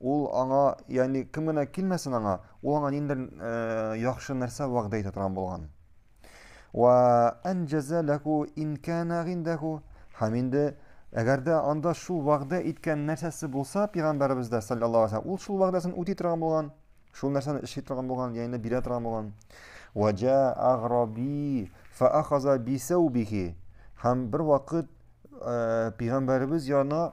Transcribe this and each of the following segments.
Ул аңа, ягъни кем генә килмәсен аңа, ул аңа ниндер яхшы нәрсә вәгъдә итә торган булган. Ва анҗаза лаху ин кана гиндаху. Һәм инде әгәр дә анда шул вәгъдә иткән нәрсәсе булса, пәйгамбәребез дә саллаллаһу алейһи ул шул вәгъдәсен үти торган булган, шул нәрсәне эшли торган булган, ягъни бирә торган булган. Ва җа аграби фа ахаза бисаубихи. Һәм бер вакыт пәйгамбәребез янына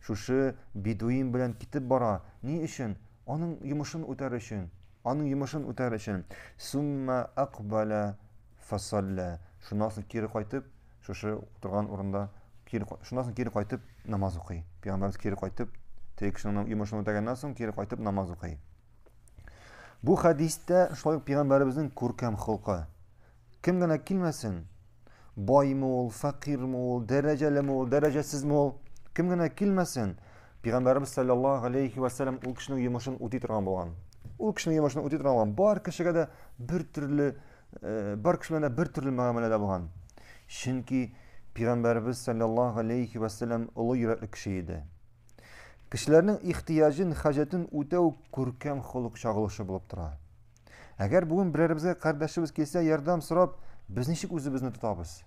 Шушы бедуин белән китеп бара. Ни өчен? Аның йомышын үтәр өчен. Аның йомышын үтәр өчен. Сумма акбаля фасалля. Шуннан соң кире кайтып, шушы утырган урында кире шуннан соң кире кайтып намаз укый. Пәйгамбәрбез кире кайтып, теге кешенең йомышын үтәгәннән соң кире кайтып намаз укый. Бу хәдистә шулай ук пәйгамбәребезнең күркәм холкы. Кем генә килмәсен, ме ул, ме ул, дәрәҗәлеме ул, дәрәҗәсезме ул, кем генә килмәсен, Пәйгамбәрбез саллаллаһу алейхи ва сәлләм ул кешенең йомышын үти торган булган. Ул кешенең йомышын үти торган булган. Бар кешегә дә бер төрле, э, бар кеше белән дә бер төрле мөгамәләдә булган. Чөнки Пәйгамбәрбез саллаллаһу алейхи ва сәлләм олы йөрәкле кеше иде. Кешеләрнең ихтияҗын, хаҗәтен үтәү күркәм холык чагылышы булып тора. Әгәр бүген берәребезгә кардәшебез килсә, ярдәм сорап, без ничек үзебезне тотабыз?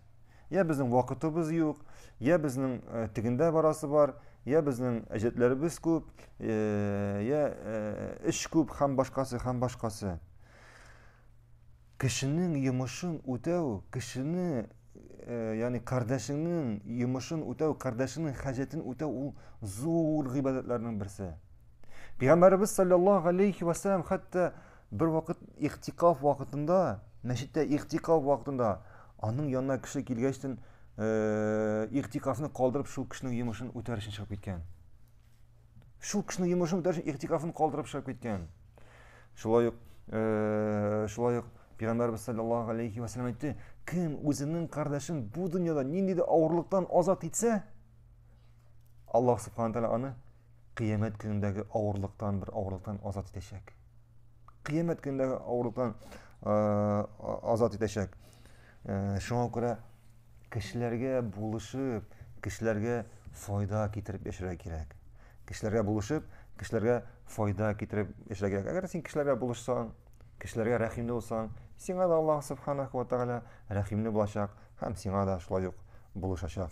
Я безнең вакытыбыз юк, я безнең э, тегендә барасы бар, я безнең әҗәтләребез күп, э, я э, эш күп һәм башкасы һәм башкасы. Кешенең йомышын үтәү, кешене, ягъни кардәшеңнең йомышын үтәү, кардәшеңнең хаҗәтен үтәү ул зур гыйбадәтләрнең берсе. Пәйгамбәребез саллаллаһу алейхи ва саллям хәтта бер вакыт ихтикаф вакытында, мәчеттә ихтикаф вакытында аның янына кеше килгәчтен э, ихтикафны калдырып шул кешенең йомышын үтәр өчен чыгып киткән. Шул кешенең йомышын үтәр өчен ихтикафны калдырып чыгып киткән. Шулай ук э, шулай ук Пәйгамбәрбез саллаллаһу алейхи ва саллям әйтте, кем үзенең кардәшен бу дөньяда нинди дә авырлыктан азат итсә, Аллаһ субханаһу аны Кыямәт көнендәге авырлыктан бер авырлыктан азат итәчәк. Кыямәт көнендәге авырлыктан азат итәчәк. Шуңа күрә кешеләргә булышып, кешеләргә файда китереп яшәргә кирәк. Кешеләргә булышып, кешеләргә файда китереп яшәргә кирәк. Әгәр син кешеләргә булышсаң, кешеләргә рәхимле булсаң, сиңа да Аллаһ субханаху ва тагала рәхимле булачак һәм сиңа да шулай ук булышачак.